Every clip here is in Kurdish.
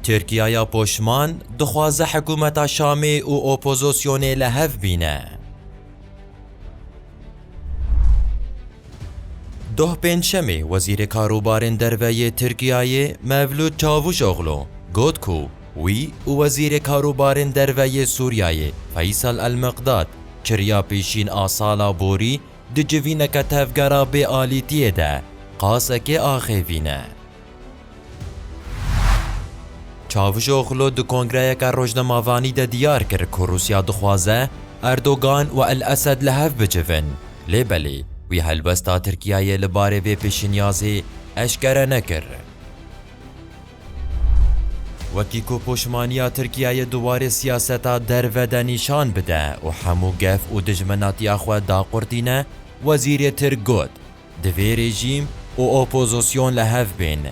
Tirkiyaya poşman dixwaze hikûmeta Şamê û opozosyonê li hev bîne. Doh Pêncşemê Wezîrê Karûbarên Derve yê Tirkiyayê Mevlût Çavûşoglu got ku wî û Wezîrê Karûbarên Derve yê Sûriyayê Feysal El-Miqdad çirya pêşîn a sala borî di civîneke tevgera bêalîtiyê de qasekê axêvîne. Çavuşoglu di kongreyeke rojnemavanî de diyar kir ku Rûsya dixwaze Erdogan û El Esed li hev bicivin, lê belê wî helwesta Tirkiyeyê li barê vê pêşniyazê eşkere nekir. Wekî ku poşmaniya Tirkiyeyê di warê siyaseta derve de nîşan bide û hemû gef û dijminatiya xwe daqurtîne, wezîrê Tirk got, Divê rejîm û opozîsyon li hev bên.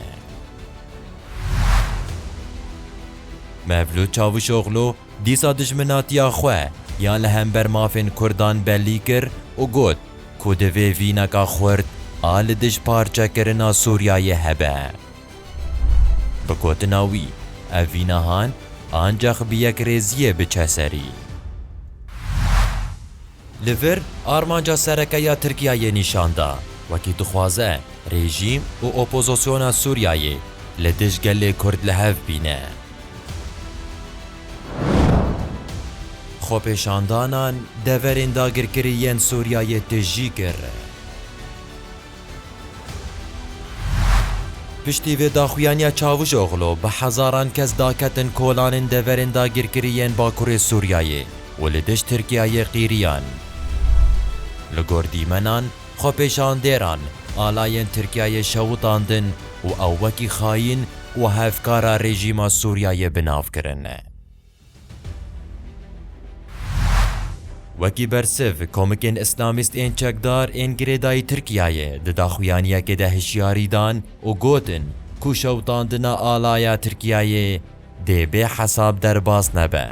Mevlût Çavuşoglu dîsa dijminatiya xwe ya li hember mafên Kurdan belî kir û got ku divê vîneka xurt a li dij parçekirina Sûriyeyê hebe. Bi gotina wî, ev vînahan ancax bi yekrêziyê biçe serî. Li vir armanca sereke ya Tirkiyeyê nîşan da, wekî dixwaze rejîm û opozosyona Sûriyeyê li dij gelê Kurd li hev bîne. Xwepêşandanan deverên dagirkirî yên Sûriyeyê tijî kir. Piştî vê daxuyaniya Çavuşoglu bi hezaran kes daketin kolanên deverên dagirkirî yên Bakurê Sûriyeyê û li dijt Tirkiyeyê qîriyan. Li gor dîmenan, xwepêşandêran alayên Tirkiyeyê şewitandin û ew wekî xayîn û hevkara rejîma Sûriyeyê bi nav kirin. Wekî bersiv, komikên îslamîst ên çekdar ên girêdayî Tirkiyeyê di daxuyaniyekê de hişyarî dan û gotin ku şewitandina alaya Tirkiyeyê dê bê hesab derbas nebe.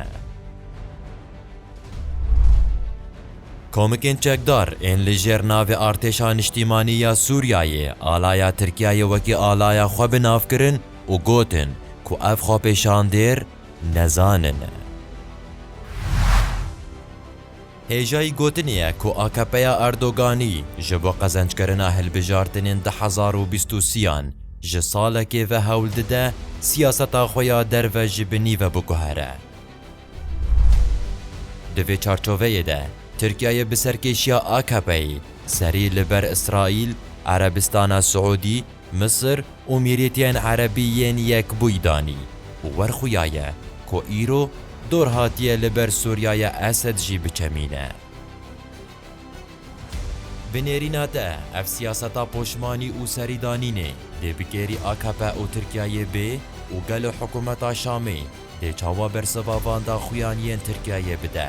Komikên çekdar ên li jêr navê Artêşa Niştîmanî ya Sûriyeyê alaya Tirkiyeyê wekî alaya xwe bi nav kirin û gotin ku ev xwepêşandêr nezanin e. Hêjayî gotinê ye ku AKPya Erdoganî ji bo qezenckerina hilbijartinên du hezar û bîst û sî-yan ji salekê ve hewl dide siyaseta xwe ya derve ji binî ve biguhere. Di vê çarçoveyê de Tirkiyeyê bi serkêşiya AKPyê serî li ber Îsraîl, Erebistana Siûdî, Misir û Mîrîtiyên Erebî yên Yekbûyî danî û werxuyaye ku îro dor hatiye li ber Sûriyaya Esed jî biçemîne. Bi nêrîna te ev siyaseta poşmanî û serîdanînê dê bi kêrî akp û Tirkiyeyê bê û gelo hikûmeta Şamê dê çawa bersiva van daxuyan yên Tirkiyeyê bide?